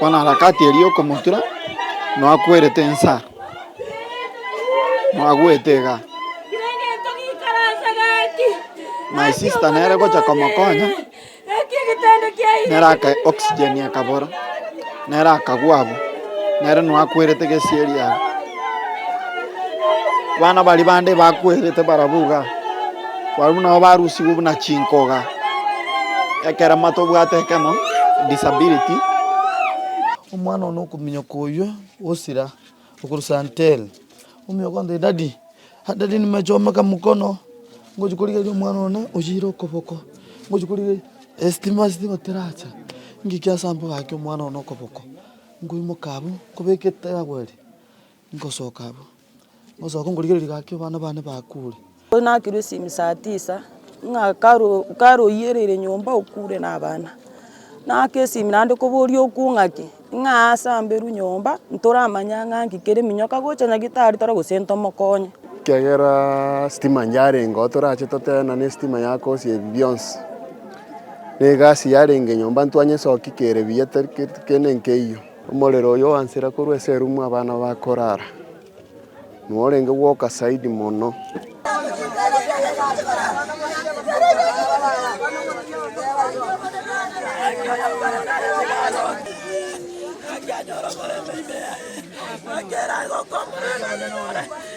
Bono harakati eria y'okomotura nwakwerete ensa, mwagwete iga. My sister nere gocha komokonya, nere aka oxygen ekabora, nere akagwa abwo, nere nwakwerete gesieri abwo. Abana baria bande bakwerete barabwo iga, barabwo nabo barusigwe buna chinkoga, ekero mate obwate ekemo, disability. Omwana one okominyoka oyio osira okorwa Santel, ominyoka onde, daddy, ah daddy nimechomeka mkono, ngochi korigereria omwana one osire okoboko, ngochi korigereria, estima estima teracha, ng'iki ase amaboko ake omwana one okoboko. Nkoimoka abwo, nkobeka etaabu eria, nkosoka abwo, nkosoka nkorigereria gaki abana bane bakure. Nakirwe esimi saa tisa, ng'a karo karo oyireire nyomba okure na abana. Naaka esimi naende koboria okwo ng'a ki, ng'a aase amberwe nyomba, ntoramanye ang'e nki kere eminyoka kere gocha nyagitari toro gose ntomokonye. Ekiagera sitima yarenge oo torache toteena ne sitima yakosia ebi bionsi. Negasi yarenge nyomba ntwanye esoki kere buya tari gento kende nkeyio. Omorero oyo ogansera korwa ase erumu abana bakorara, norenge gwoka zaidi mono.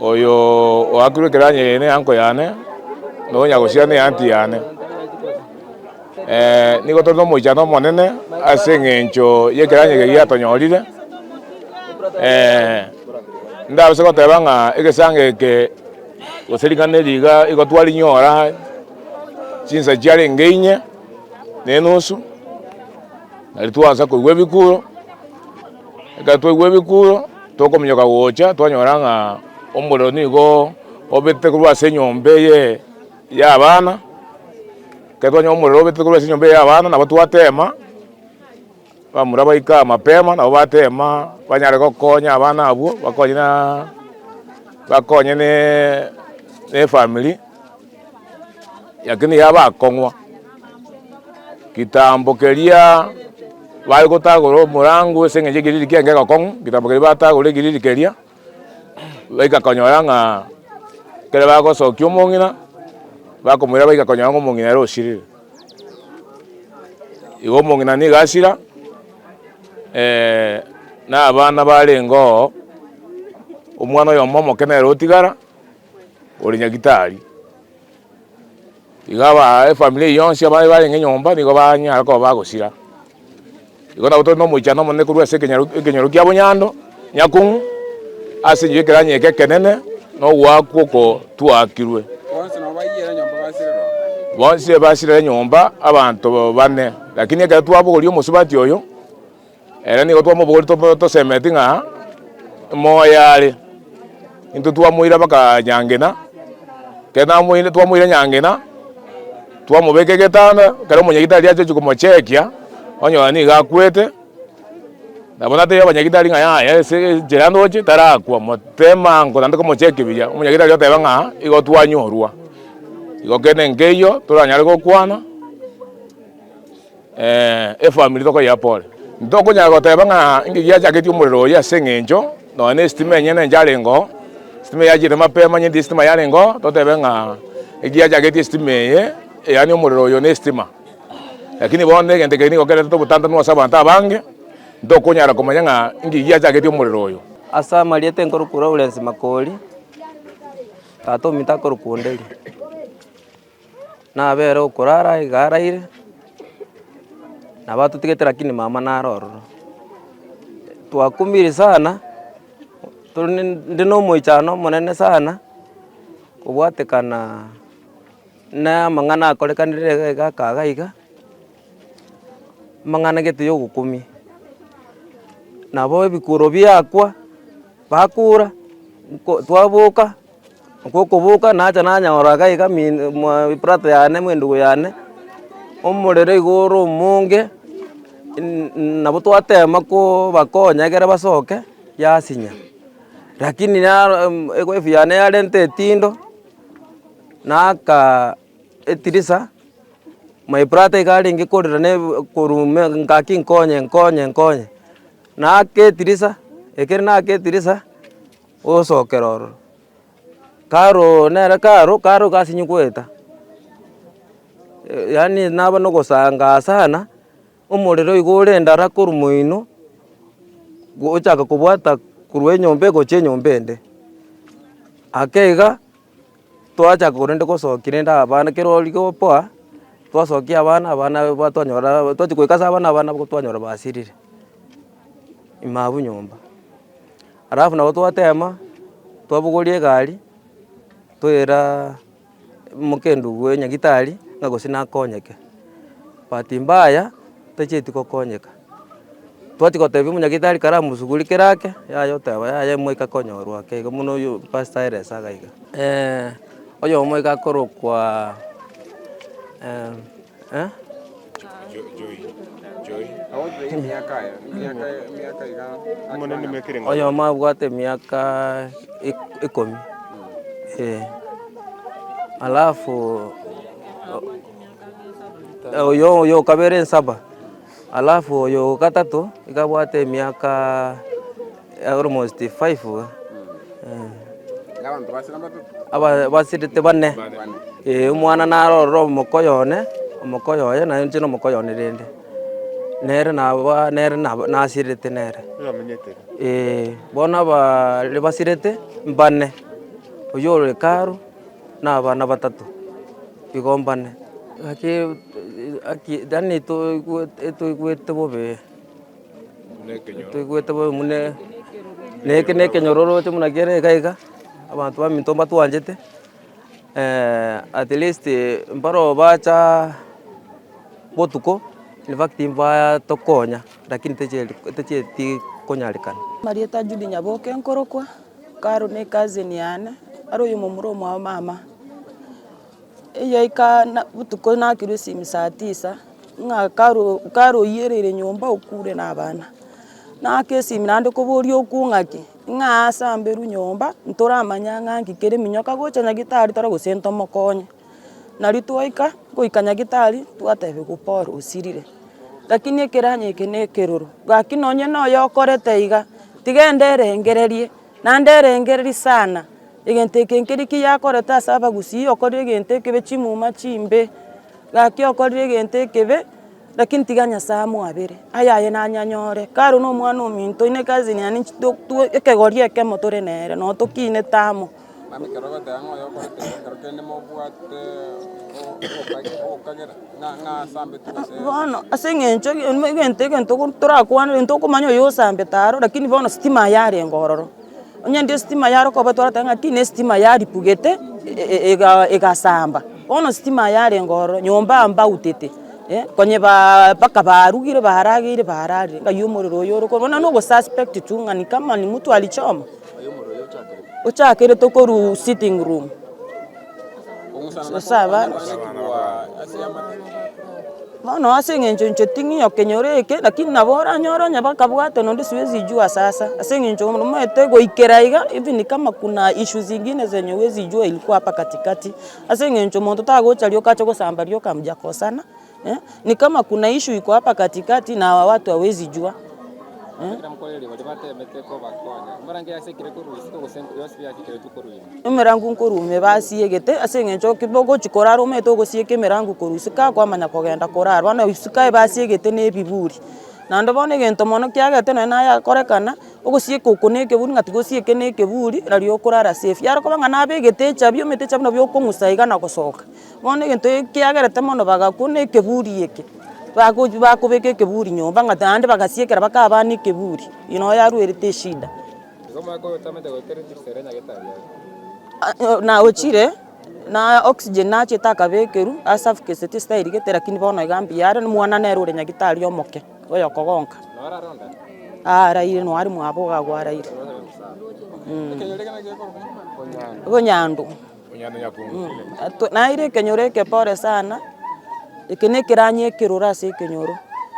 Oyo oakirwe ekeranyo eye neanko yane, na onyagosiera neanti yane. Ee, nigo tore nomoichano omonene ase engencho y'ekeranyo eke giatonyorire. Ee, ndabase goteba ng'a egesango eke gose ring'ana eri iga igo twarinyora chinsa chiarenge inye na enusu, nario twansa koigwa ebikuro. Ekero twaigwa ebikuuro, tokominyoka gocha, twanyora ng'a omorero nigo obetete korwa ase enyomba eye y'abana. Ekero twanyora omorero obetete korwa ase enyomba eye y'abana, nabo twatema, bamura baika mapema, nabo batema banyare gokonya abana abwo, bakonye na, bakonye na efamiri. Lakini iga bakong'wa. Kitambo keria bare gotagora omorango ase engencho ekiriri kiane kegokong'u, kitambo keria batagora ekiriri keria, baika konyora ng'a ekero bagosokia omong'ina, bakomoira baika konyora ng'a omong'ina ere osirire. Igo omong'ina nigo asira na abana barenge oo, omwana oyomo omoke nere otigara, ore nyagitari, iga aba efamiri eye yonsi abaye barenge nyomba nigo banyare koba bagosira. Igo nabo tore na omoichano omonene korwa ase ekenyoro ekenyoro kia Boyando, Nyakong'u, ase enchera ya ekeranyi eke ekenene na ogoakwa okotuakirwe. Bonsi basirere nyomba abanto bane, lakini ekero twabogorie omosubati oyo, Ere nigo twamobori tosemeti ng'a moyo are. Intwe twamoira baka Nyangina, kere namoire twamoire Nyangina twamobeka egetanda kero omonyagitari ache gochia komochekia onyora nigo akwete nabo natebia abanyagitari ng'a yaya ase enchera ndoche tarakwa motebe mango naende komochekia buya omonyagitari oteba ng'a igo twanyorwa. Igo kende nkeiyo toranyare gokwana. Efamiri tokoyea pore. Ntokonyara goteba ng'a inki giachaketie omorero oyio ase eng'encho nonya nesitima enyene encharengo, sitima eyachire mapema onye ndi sitima yarengo totebe ng'a egiachaketie sitima eye yaani omorero oyo nesitima. Lakini bono egento eke nigo kerete obotantanu ase abanto abange, ntokonyara komanya ng'a inki giachaketie omorero oyo. Ase amarieta enkorokwa Lawrence Makori, Tata omito akorokwa Onderi. Nabere okorara iga araire, nabo atotigete lakini mama naro ororo. Twakumire sana, tore ne inde na omoichano omonene sana, kobwatekana na amang'ana akorekanire iga iga akaga iga, amang'ana gete ya ogokumia. Nabo ebikuro biakwa, bakura, nko twaboka. Gokoboka nacha nanyora iga iga eprato yane mwe endugu yane, omorero iga ore omonge, nabo twatema kobakonya ekero basoke, yasinya. Rakini ewife yane yarenta etindo, naaka etirisa, my brother iga arenge korera na korwa ime ngaki nkonye nkonye nkonye, naaka etirisa, ekero naaka etirisa. Ogosookera ororo, karo nere karo karo gasinyi goeta, yaani naba na ogosanga sana, omorero igo ore ndara korwa moino, gochaka kobwata korwa enyomba egochia enyomba ende, ake iga. Twachaka korende gosokia rende abana kero origo poa, twasokia abana, abana abana twanyora twachia goika ase abana, abana abwo twanyora basirire ime abwo nyomba. Alafu nabo twatema, twabogoria egari, toyera mokenduguo nyagitari, ng'a gose nakonyeke, bahati mbaya, tachieti gokonyeka. Twachia gotebia omonyagetari kare amosuguri kera ake, yaya oteba yaya omoika akonyorwa ake iga buna oyo pastor Elesa iga iga. oyomo iga akorokwa oyomo abwate emiaka ekomi eh. Alafu oyo oyo okabere nsaba Alafu oyo o gatato iga abwate emiaka almost five iga, eh. Aba- basirete bane, eh, omwana narorire omoko oyone, omoko oyoye naye inche na omoko oyone rende, nere naba nere naba nasirete nere, eh, bono abaaare basirete mbane, oyio ore karo. na abana batato igo mbane. Naki haki yaani etoigwete bobe etoigwete bobe buna na eke na ekenyoro oroche buna kere iga iga, abanto baminto mbatwanchete at least mbare oo bacha botuko in fact mbatokonya lakini techia techia tikonyareka. Amarieta Judy Nyaboke nkorokwa. Karo ne cousin yane, aria oyomomura omwao mama, eyaika na botuko nakirwe esimi saa tisa, ng'a karo karo oyierire nyomba okure na abana, naaka esimi naende koboria okwo ng'aki, ng'a ase mberu nyomba, ntoramanye ang'aki kere, minyoka gocha nyagetari tore gose ntomokonye. Nario twaika goika nyagetari twatebiwa Paul osirire, lakini ekeranyo eke ne ekeroro, gaki nonye na oyo okorete iga, tiga ende erengererie, naende erengererie sana, egento eke nkeri ki yakorete ase abagusii, okorire egento ekebe chimuma chimbe, gaki okorire egento ekebe, lakini tiga Nyasae amoabere, ayaye nanye anyore, kare na omwana ominto, ine cousin yane nchi- to- to ekegori ekemo tore nere, nonye tokinete amo. Naende ekero ogoteeba ng'a oyokorete iga, ekero kende mobwate obokagi, obokagera, ng'a ng'a asambeti gose. Bono ase eng'encho ege eme egento egento ogo torakwane egento okomanya oyo osambete aro lakini bono sitima aye arenge ororo. Onye ende esitima aye arokoba otware oteba ng'a tiina esitima aye aripugete e- ega egasamba, bono sitima aye arenge ororo, nyomba ambautete, eh konyebaa mpaka barugire barageire bararire ng'ai omorero oyo ore korwa bono na ogosuspect tu ng'ani kama ni mtu alichoma. Ochakerete okorwa sitting room bono ase eng'encho inche ting'ioka enyoro eke lakini nabo oranyore onye bakabwate nonde siwezi jua sasa ase eng'encho omanyete goikera iga even kama kuna issues zingine zenye huwezi jua ilikuwa hapa katikati ase eng'encho monto tagocha rioka ache gosamba rioka mjakosana. Eh, ni kama kuna ishu iko hapa katikati na hawa watu hawezi jua eh? emerango nkorume basiegete ase eng'encho kibogochi korara omete ogosieka emerango korwa isiko akwamanya kogenda korara bono isiko aye basiegete na ebiburi naende bono egento mono kiagete nonye naye akorekana ogosieka oko na ekeburi ng'a tigosieke na ekeburi nari okorara safe yare koba ng'a nabegete echabi omete echabi nabwo okong'usa iga na gosoka. Bono egento eke kiagerete mono bagakwa buna ekeburi eke, bagochi bakobeka ekeburi nyomba ng'a naende bagasiekera bakaba abana ekeburi, eye nabo yaruerete eshida. naochire na oxygen nachete akabekerwa ase afukesire tesitairigete lakini bono iga mbuya are, omwana nere ore nyagetari omoke oyokogonka aa araire noo are mwabo iga agwo araire, mh. Obonyandu. Naeire ekenyoro eke pore sana, eke ne ekeranyi ekeroro ase ekenyoro.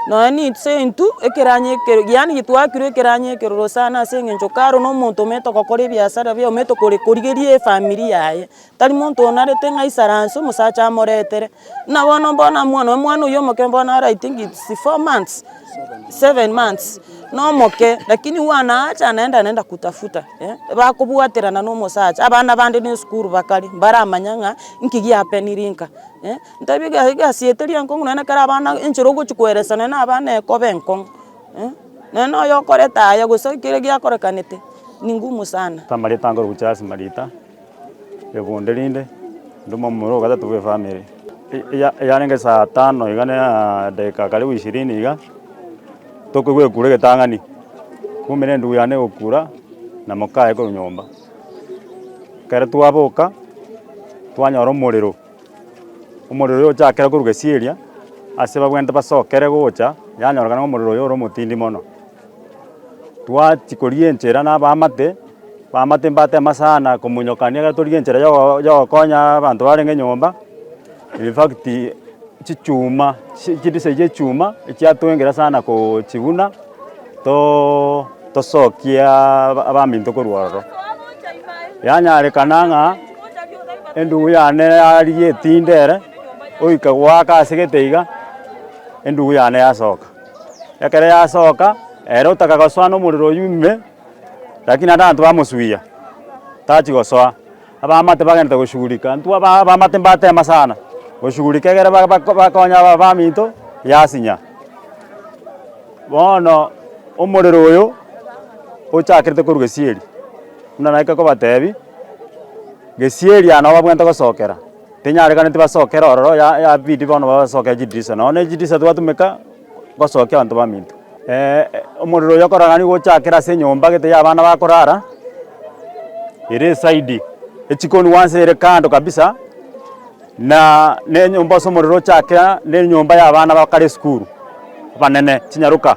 Nonya ninse intwe ekeranyi ekero yaani getwakirwe ekeranyi ekeroro sana ase eng'encho karo na omonto omanyete gokora ebiasara biaye omanyete korigeria efamiri yaye. Tari monto onarete ng'a aisaranse omosacha amoretere. Buna bono mbwene omwana oyo, omwana oyo omoke mbwene are I think it's four months, seven months, nomoke lakini huwa naacha anaenda anaenda kutafuta eh, bakobwaterana na omosacha, abana bande na esukuru bakare, mbaramanya ng'a nki giapeniri nka eh, ntebi iga egasi eye teri enkong'u nonye na ekero abana enchera ogochia koeresa nonye na abana ekoba enkong'u eh, nonye na oyo okoreta aye gose kere giakorekanete ni ngumu sana. Tamareta akogocha ase marita. Rikunde rinde, ntume omomura o gatato bw'efami ere. Eria yarenge esaa tano iga na edageka karibu ishirini iga, tokoigwa egekura egetang'ani, kumbe na endugu yane egokura na mokaye korwa nyomba. Ekero twaboka, twanyora omorero, omorero oyo ochakire korwa gesieri ase babwenerete basokere gocha, yanyorokana ng'a omorero oyo ore omotindi mono. Twachikoria enchera nabamate, bamate mbatema sana komonyokania ekero torigia enchera yogo yogokonya abanto barenge nyomba, in fact chichuma chi chidisa echi echuma echiatwengera sana koochiguna too tosokie aba abaminto korwa ororo. Yanyarekana ng'a endugu yane yarigia etinde ere, oika goaka ase egete iga, endugu yane yasoka. Ekero yasoka, ere otaka gosoa nomorero oyio ime, rakini naende abanto bamosuia, tachi gosoa. Abaamate bagenderete goshughulika, intwe aba abaamate mbatema sana, goshughulika egere ba- ba bakonye aba abaminto yasinya. Bono omorero oyo, ochakerete korwa gesieri, buna naika kobatebi, gesieri aya nabo babwenerete gosokera. Tenyarekaneti basokere ororo ya yabidi bono basoke chidirisa nonya ne chidirisa twatumeka gosokia abanto baminto. Omorero oyo okorora nigo ochakere ase enyomba gete ya abana bakorara ere esaidi echikoni wansi ere kando kabisa na ne enyomba ase omorero ochakera ne enyomba ya abana bakare esukuru abanene chinyaroka.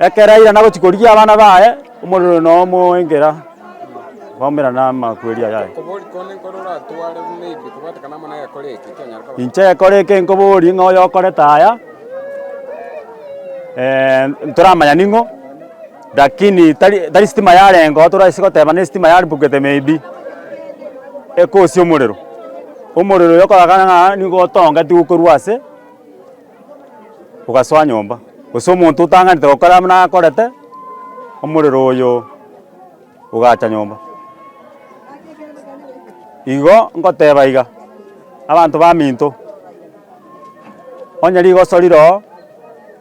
Ekero airana gochia korigia abana baye, omorero na omoengera bakomerana namakweri aya aye. Inche gekore eke nkoborie ng'a oyokorete aya, ntoramanya ning'o, lakini tari tari sitima yarenga oo toraise goteba nesitima yarimbokete maybe, ekosia omorero. Omorero oyo okoragana ng'a nigo otongeti gokorwa ase. ogasoa nyomba, gose omonto otang'anete gokora buna akorete, omorero oyo ogacha nyomba. Igo ngoteba iga, abanto baminto, onye rigoso rire oo,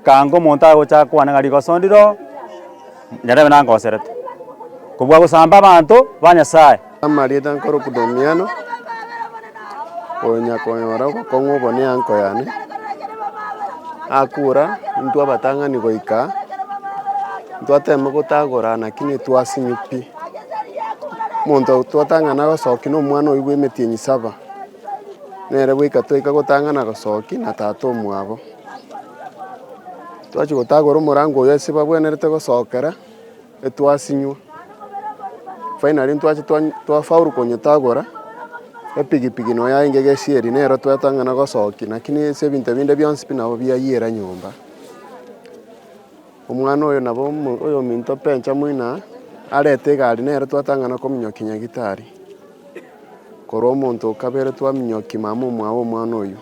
kanga omonto aye gocha kwane ng'a rigoso ndire oo, Nyarebe nangoserete. Kobua gosamba abanto ba Nyasae. Amarieta nkorokwa Domiano, konya konyora obokong'u obonene anko yane, akura intwe abatang'ani goika aa, ntwateme gotagora naki netwasimwa pi. Omonto twatang'ana gosoki na omwana oyio bw'emetienyi saba, nere bweka twaika gotang'ana gosoki na tata omwabo. Twachia gotagora omorango oyo ase bagwenerete gosookera, etwasinywa. Finally ntwacha twafaulu konyetagora, epigipigi noyo yaye nigo egesieri, nero twatang'ana gosokia, lakini ase ebinto ebinde bionsi pi nabo biayira nyomba. Omwana oyo nabo oyominto Benjamin aa, arete egari nere twatang'ana kominyokia nyagetari, korwa omonto o kabere twaminyokia mama omwao omwana oyio.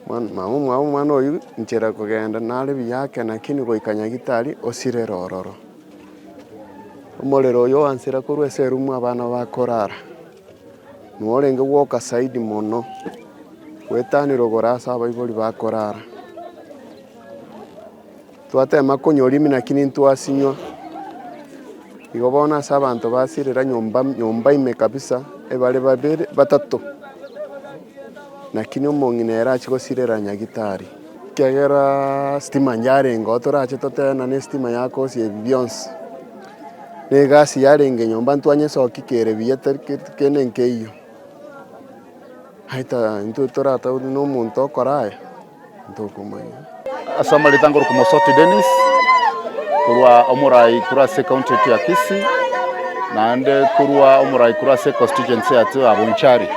Mama omwabo omwana oyio nchera kogenda nare buya ake nakini goika nyagitari osirere ororo. Omorero oyio ogansira korwa ase erumu abana bakorara. Norenge gwoka saidi mono gwetanire ogoro ase abaibori bakorara. Twatema konywa orimi lakini intwasinywa. Igo bono ase abanto basirera nyomba nyomba ime kabisa ebare babere batato, lakini omong'ina ere achia gosirera nyagitari, ekiagera sitima yarenge oo torache totebe ng'a ne sitima yakosia ebi bionsi. Na egasi yarenge nyomba ntwanyesokia kere buya tari keri kende nkeiyo. Aye ta intwe toratebe na omonto okora aya. ntokomanya. Ase amareta ngoroka Omosoti Dennis korwa Omorai korwa ase ecounty yaito ya Kisii naende korwa Omorai korwa ase econstituency yaito ya Bonchari.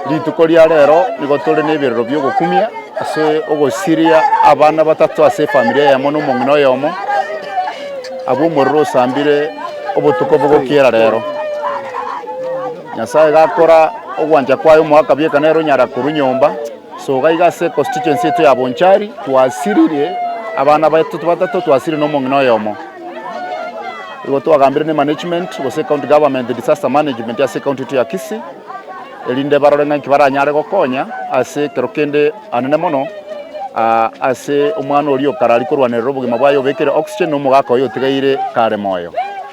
Rituko ria rero nigo tore neberero biogokumia ase ogosiria abana batato ase efamiri eyemo na omong'ina oyomo abwo omorero osambire obotuko bogokiera rero. Nyasaye gakora ogwancha kwaye omoaka bieka nere onyara korwa nyomba. Soka iga ase econstituency yaito ya Bonchari twasiririe abana baito batato twasiririe na omong'ina oyomo. Igo twagambire ne management gose county government disaster management ase ecounty yaito ya Kisii erinde barore ng'a inki baranyare gokonya ase ekero kende anene mono ase omwana oria okarari korwanerera obogima bwaye obekire oxygen na omogaka oye otigaire kare moyo.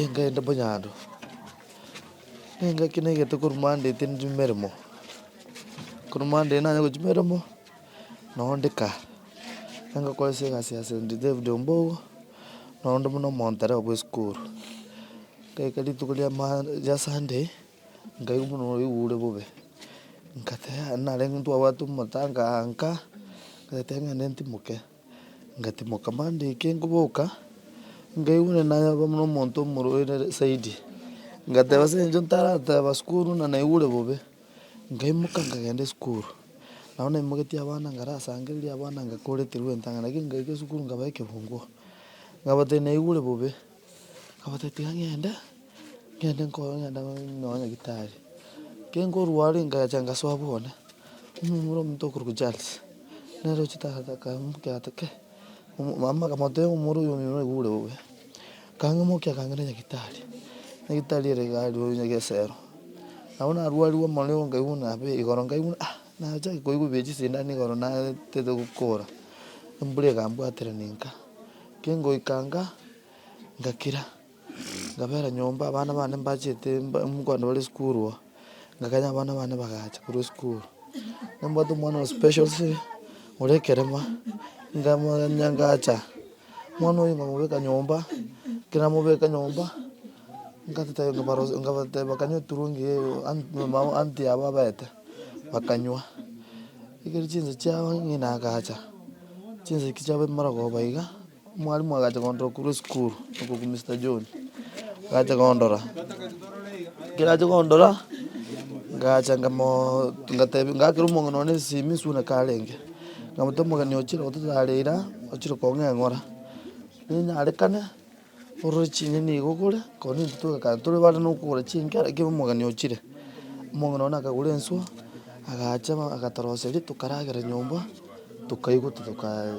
Engenda monyando, nengaki naigete korwa monday tindi chimeremo, korwa monday nanye gochia chimeremo, nabo ndi kaa, ningokora ase egasi ya st David ombogo, nabo ndi buna omontereba bwa esukuru, ngaika rituko ria mon ria sunday, nkaigwa buna oigure bobe, nkateba narenge ntwabwate omotango anga, ngoteba ng'ende ntimoke. Ngatimoka mandiki ngoboka, nkaigwa onye nayaba buna omonto omorwaire zaidi. Ngateba ase eng'encho ntarateba sukuru buna naigure bobe, nkaimoka nkagenda esukuru. Nabo naimoketie abana ngarasangereria abana ngakoreterwa entang'ana, lakini ngaika esukuru nkabae ekekungu, ngabatebia naigure bobe. Agatebia ng'ende, ng'ende nkoe ng'ende nyoe nyagitari. Kenkorwa are ngacha ngasoa bwone, omomura omonto okorokwa Charles, nere ochete agate akaimokia agate kei, omo mama akamotebia ng'a omoro oyo omino naigure bobe. Kang'imokia kang'ira nyagitari, nyagitari ere iga aria o nyagese ero. Nabo narwarigwe mono igo nkaigwa buna abe igoro nkaigwa buna ah. Nachake koigwa bie chisindani igoro natete gokora, embura egambwatera nenka. Kengoika inga, ngakira, ngabera nyomba, abana bane mbachete mogondo bare esukuru oo, ngakanya abana bane bagacha korwa esukuru. Nambwate omwana o special siri, ore ekerema, nkamokanya ngacha, omwana oyo nkamobeka nyomba, ekero namobeka nyomba, nkabateba kanywe eturungi eye, aunty yabo abete. bakanywa. Ekero chinsa chiabo ng'ina agacha, chinseke chiabo bimorogoba iga, mwalimu agacha kondora korwa esukuru, oko kwa Mister John, agacha kondora, ekero acha kondora, ngacha ngamoooo ngatebi ngakera omong'ina one esimi suna karenge, nkamotebia omogeni ochire gototarera, ochire kong'a eng'ora, ninyarekane. Orore chinyeni iga ogore, korwa nintwe twegakara tore bare nokogora chinkera ekero omogeni ochire. Omong'ina one akagora enswe, agacha ba agatoroseria tokaragera nyomba, tokaigwa tokaa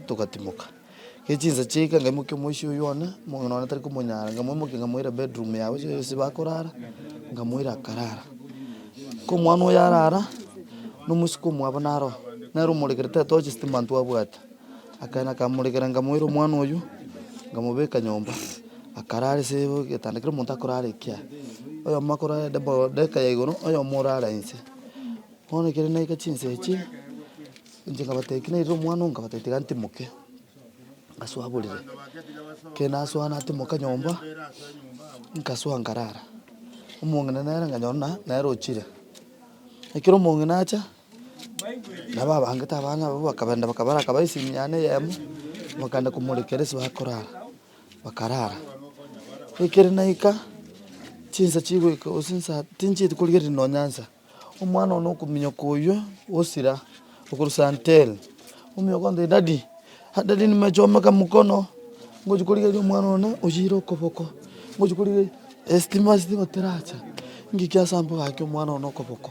togatimoka. Ere chinsa chiaika ngaimokia omoisia oyio one, omong'ina one tari komonyara, ngamoimokia ngamoira bedroom yaye gose ase bakorara, ngamoira akarara. Komwana oyo arara, nomosiko omwabo naro, nere omorekera tatoa chistima ntwabwati. Akaenda akamorekera nkamoira omwana oyio nkamobeka nyomba akarara ase egetanda kero omonto akorara ekiaye oyomo akorara ande boo dagika ya igoro oyomo orara inse bono ekero naika chinsa echio inche nkabatebia ki nairire omwana oo nkabatebia tiga ntimoke ngasoa borere ekero nasoa natimoka nyomba nkasoa nkarara omong'ina nere nkanyora buna nere ochire ekero omong'ina acha. Nabo abangete abana abwo bakabenda, bakabaraka baise emiana eyemo, bakaenda komorekera ase bakorara, bakarara. Ekero naika, chinsa chigoika gose nsa tinchieti korigereria nonya nsa, omwana one okominyoka oywo osira okorwa santel, ominyoka ontebi daddy, ah daddy nimechomeka mkono, ngochi korigereria omwana one oyire okoboko, ngochi korigereria, estima stima teracha, ngikio ase ambo gaki omwana one okoboko.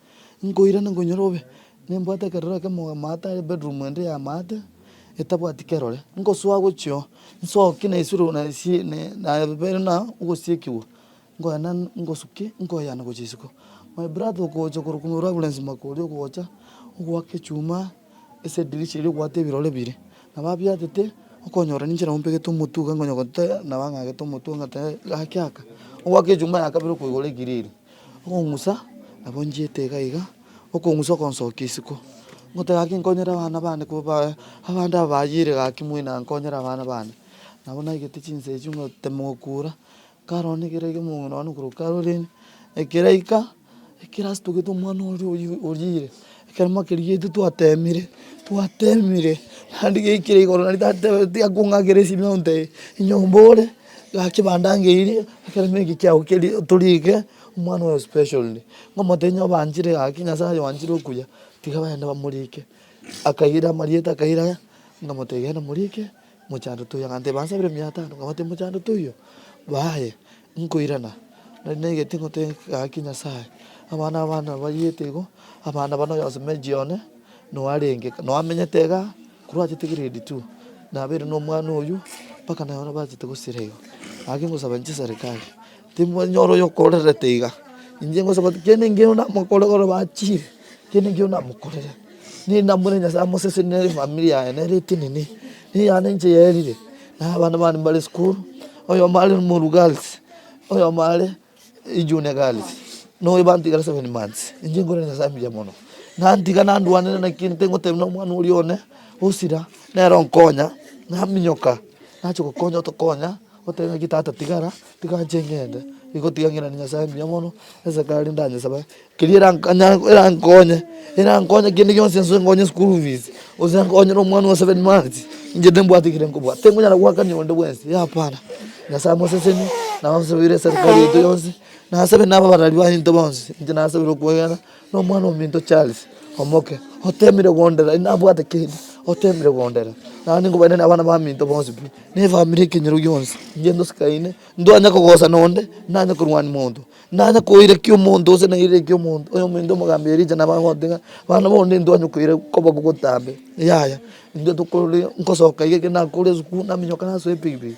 Nkoirana nkonyora obe, nimbwate ekerore ekemo amaate are bedroom ende ya amaate, etabwati kerore, nkosoa gochia oo, nsoki na esiro na esi ne nabere na ogosiekigwa, nkoyane ngosuke nkoyane gochia isiko. My brother okocha korwa komoeru abure nsima koria ogocha, ogoaka echuma ase edirisha eria ogoata ebirore bire, nabo abiatete, okonyora ninche nabo mpegete omotwe iga nkonye gotee nabo ang'agete omotwe ng'a tee gaki aka, ogoaka echuma ya kabere okoigora egiriri. Okong'usa nabonchete iga iga, okong'usa okonsokia isiko. Ngoteba gaki nkonyere abana bane ko bae abande aba bayeire gaki moino nkonyere abana bane. Nabo naigete chinsa echio ngotema okura, nkarora na ekero omong'ina nonye na okorokoro orenge, ekeraika, ekero asetogete omwana oria oyi oyiire. Ekeremo keria intwe twateemire, twateemire, naende gaikire igoro naende tatebe tiga kong'akera esimionto eye, enyomba ore, gaki kebanda ngeirie, ekeremo eke kiago keria otorie eke, omwana oyo specially, ng'omotebi ng'a obanchire gaki, nyasae oyo obanchire okuya, tiga bagende bamorike, akaira amarieta akaira aya, nkamotebi genda morike. Mochandote oyo, ng'a tibansabire emiya etano, nkabwate mochandote oyio, baye nkoirana. Nari naigete ng'o tegaki Nyasaye, abana abana bariete igo, abana bana oyo asome age one, noe arenge kaa, noe amenyete iga, korwa achete grade two, nabeire nomwana oyio, mpaka nabo bachete gosira igo. Gaki ngosaba inche eserikari. Timwenyora oyokorerete iga. Inche ngosaba ng'a kera engiya namokore ekero bachire, kera engiya namokorere, ninamwire Nyasaye amosese ne efamiri yaye nere etenene, eyane inche yaerire, na abana bane mbare esukuru, oyomo are omoru girls, oyomo are ejunior girls, na oyo bantigera seven months, inche nkorere Nyasaye mbuya mono, nantiga nandwanire naki egento ngotebia na omwana oria one, osira, nere onkonya, naminyoka, nachi gokonya otokonya. Goteba ng'a tata tigara, tika nche ng'ende, nigo tiga ng'irane Nyasae mbuya mono, esake aria ndanyesaba, keria eranyare erankonye, erankonye kende gionsi ense enkonye school fees, gose enkonyere omwana o seven months, inche timbwati ekere nkobwate, tinkonyara goakania onde bwensi, hapana, Nyasae moseseni, nabasobeire eserikari yaito yonsi, nasabe na ababarari baye into bonsi, inche nasabire okwegena. Nomwana-o-minto Charles omoke, otemire gondera, inwe nabwate kende, otemire gondera. Naende nkobainane abana baminto bonsi pi, na efamiri ekenyoro gionsi, inche ndosikaine, ntonyare kogosa nonde, ntonyare korwania monto, ntonyare koirakia omonto gose nairakie omonto, oyominto omogambi Elija nabo agote ng'a bana bonde ntonyare koira koba bogotambe. Yaya, intwe tokorire, nkosoka iga ekero nakorire esukuru, naminyoka nasoa epikipiki.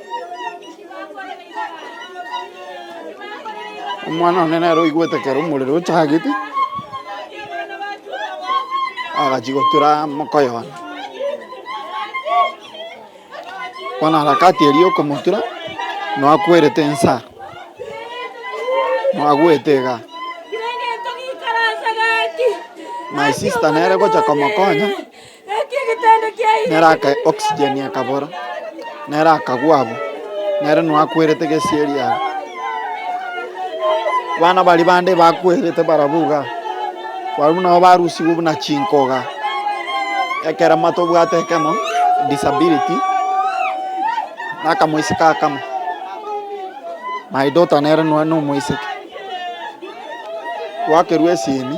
Omwana one nere oigwete ekero omorero ochagete, agachia gotura mokoye one. Bono harakati eria okomotura, nwakwerete ensa, mwagwete iga. My sister nere gocha komokonya. Nere akae oxygen akabora, nere akagwa abwo, nere noo akwerete gesieri abwo. Abana baria bande bakwerete barabwo igaa, barabwo nabo barusigwe buna chinkoga, ekero ama tobwate ekemo, disability, na akamoiseke akamo. My daughter nere noo nomoiseke, gwakerwa esimi.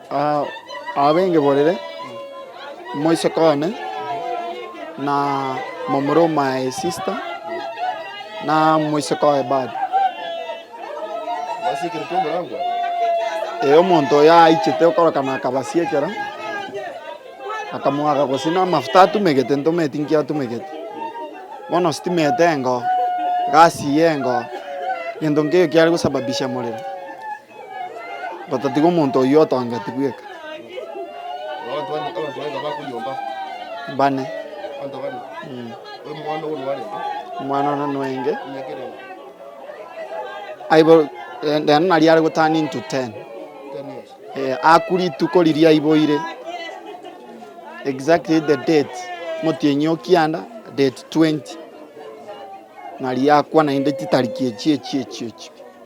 Abengeborere, moiseke one, na momura o my sister, na moiseke oye bado. Ee, omonto oyo aichete okorokana akabasiekera, akamwaga gose na amafuta atumegete ntometi nki atumegete. Bono sitima ete engo, gasi eye engo, gento nkeiyo kiare gosababisha morero. Gotatiga omonto oyio otongeti bweka. Bane. Omwana one nwenge. Aibo eh, rende naria are gotani into 10. Eh, akuri ituko riria aiboire. Exactly the date. Motienyi okianda date 20. Naria akwa naende chitariki echi echi echi echi.